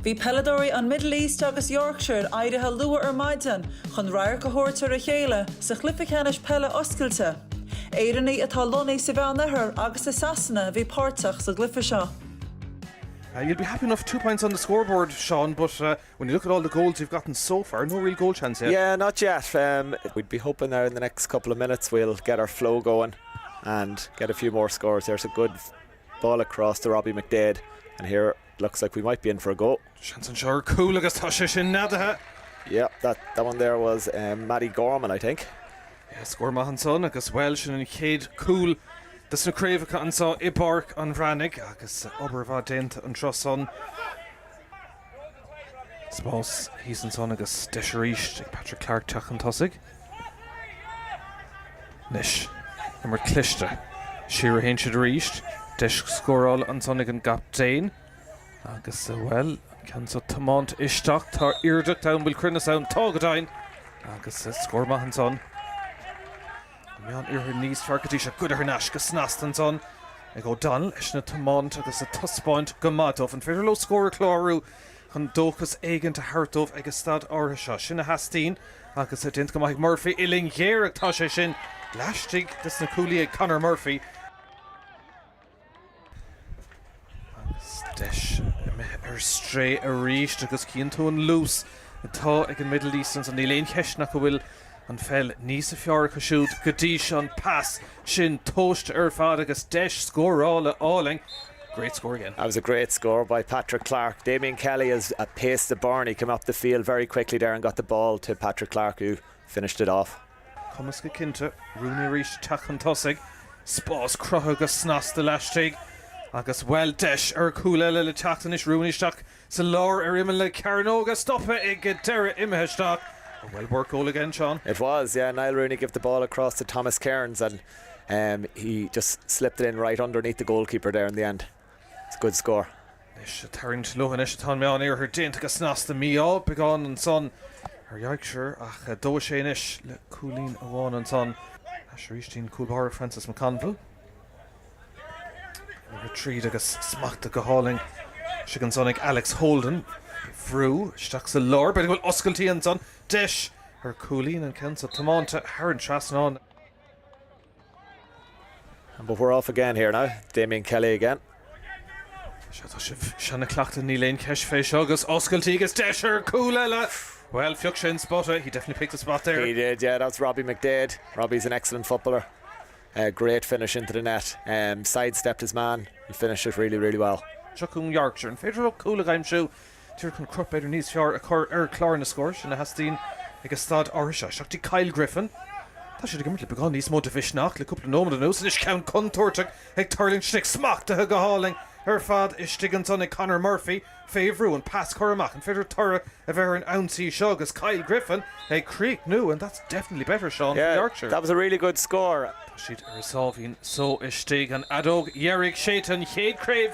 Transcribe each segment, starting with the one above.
Bhí peileadóirí an Middle East agus Yorkshire éirithe luath ar maidin chun radharc a thabhairt ar a chéile sa chluiche ceannais peile oscailte. Éireannaigh atá lonnaithe sa Mheánoirthear agus i Sasana a bhí páirteach sa gcluiche seo. You'll be happy enough two points on the scoreboard Seán but when you look at all the goals you've gotten so far no real goal chance yet. Yeah not yet um, we'd be hoping that in the next couple of minutes we'll get our flow going and get a few more scores there's a good Ball across to Robbie McDaid and here it looks like we might be in for a goal. Seans anseo ar cúl agus tá sé sin neadaithe. Yep, that that one there was eh Mattie Gorman, I think. Yes, scór maith ansan agus bhuel sin an chéad cúl des na craobhacha anso i bPáirc an Bhreathnaigh agus obair mhaith déanta an turas san. Spás thíos ansan agus deis arís ag Patrick Clarke teacht chun tosaigh. Anois, imirt cliste. Siar a théann siad arís. Deis scórála ansan ag an gcaptaen agus, bhuel, an ceann seo tiomáinte isteach. Tá iarracht ann, bhfuil cruinneas ann? Tá, go deimhin! Agus scór maith ansan. An Meánoirthear níos fearr go dtí seo curtha thar n-ais go snasta ansan ag O'Donnell anois ag tiomáint agus ag taispeáint go maith dóibh. An féidir leo scór a chlárú chun dóchas éigin a thabhairt dóibh ag an staid áirithe seo? Sin a theastaíonn agus tá déanta go maith ag Murphy uillinn ghéar ach tá sé sin laistigh des na cuaillí ag Conor Murphy. Agus deis imithe ar strae arís agus chíonn tú an luas atá ag an Middle East ansan. Níl aon cheist ach go bhfuil an pheil níos fearr acu siúd go dtí seo. An pas sin tomhaiste ar fad agus deis scórála álainn. Great score again. That was a great score by Patrick Clarke. Damien Kelly has pace to burn, he came up the field very quickly there and got the ball to Patrick Clarke who Finished it off. Cumas go cinnte, Rooney arís, teacht chun tosaigh, spás cruthaithe go snasta laistigh, agus, bhuel, deis ar chúl eile le teacht anois, Rooney isteach sa lár ar imeall na cearnóga, stoptha ag deireadh imithe isteach, a well worked goal again, Seán. It was, yeah, Niall Rooney gave the ball across to Thomas Cairns and, um, he just slipped it in right underneath the goalkeeper there in the end. It's a good score. Anois ag tarraingt leo anois atá an Meánoirthear déanta go snasta mí-ádh, beagán ansan ar Yorkshire ach deis anois le cúilín amháin ansan. Ar ais arís chuig an cúl báire Francis McConville. Rith tríd agus smachtaithe go hálainn istigh ansan ag Alex Holden. Bhrú isteach sa lár, b'fhéidir go bhfuil oscailtí ansan, deis ar cúilín, an ceann so tiomáinte thar an trasnán. But we're off again here now, Damien Kelly again. Sea, tá sibh seo na cleachtaidh, níl aon cheist fé seo, agus oscailtí agus deis ar chúl eile! Bhuel, phioc sé an spota, he definitely picked the spot there. He did, yeah, that's Robbie McDaid. Robbie's an excellent footballer. Uh, great finish into the net. Um, sidestepped his man and finished it really, really well. Seo cún Yorkshire, an féidir ó cúl a gaimsiú Tír, chun crot b'fhéidir níos fearr a chur ar chlár na scór, sin a theastaíonn ag an staid áirithe seo. Seacht ag Kyle Griffin. Tá siad ag imirt le beagán níos mó de mhisneach le cúpla nóiméad anuas. Anois ceann contúirteach ag tuirlingt isteach, smachtaithe go hálainn ar fad istigh ansan ag Conor Murphy. Fé bhrú, an pas curtha amach, an féidir toradh a bheith ar an ionsaí seo agus Kyle Griffin ag críochnú and that's definitely better, Seán, for Yorkshire. Yeah, that was a really good score. Tá siad ar a sáimhín só istigh. An fheadóg dheiridh séidte, an chéad chraobh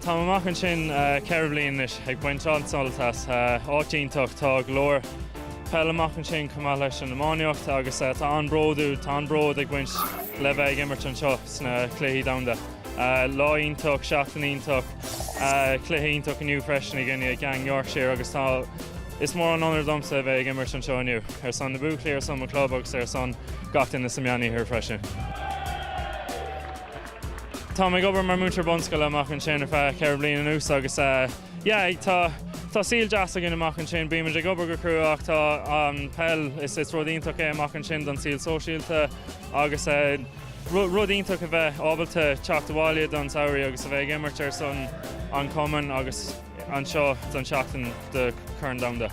Táim amach ansin ceithre bhliain anois, ag baint an-sult as. Áit iontach, tá go leor peil amach ansin chomh maith leis an iománaíocht agus tá an-bródú, tá an-bród ag baint le bheith ag imirt anseo sna Cluichí Domhanda. Lá iontach, seachtain iontach, cluiche iontach inniu freisin againne i gcoinne Yorkshire agus tá, is mór an onóir domsa a bheith ag imirt anseo inniu, ar son na buachaillí, ar son mo chlub agus ar son gach duine sa Meánoirthear freisin. Táim ag obair mar múinteoir bunscoile amach ansin ar feadh ceithre bliain anuas agus yeah tá tá saol deas againn amach ansin, bímid ag obair go crua ach tá an peil, is is rud iontach é amach ansin don saol sóisialta agus rud rud iontach a bheith ábalta teacht abhaile don samhraidh agus a bheith ag imirt ar son an chumainn agus anseo don seachtain do Chraobh an Domhain.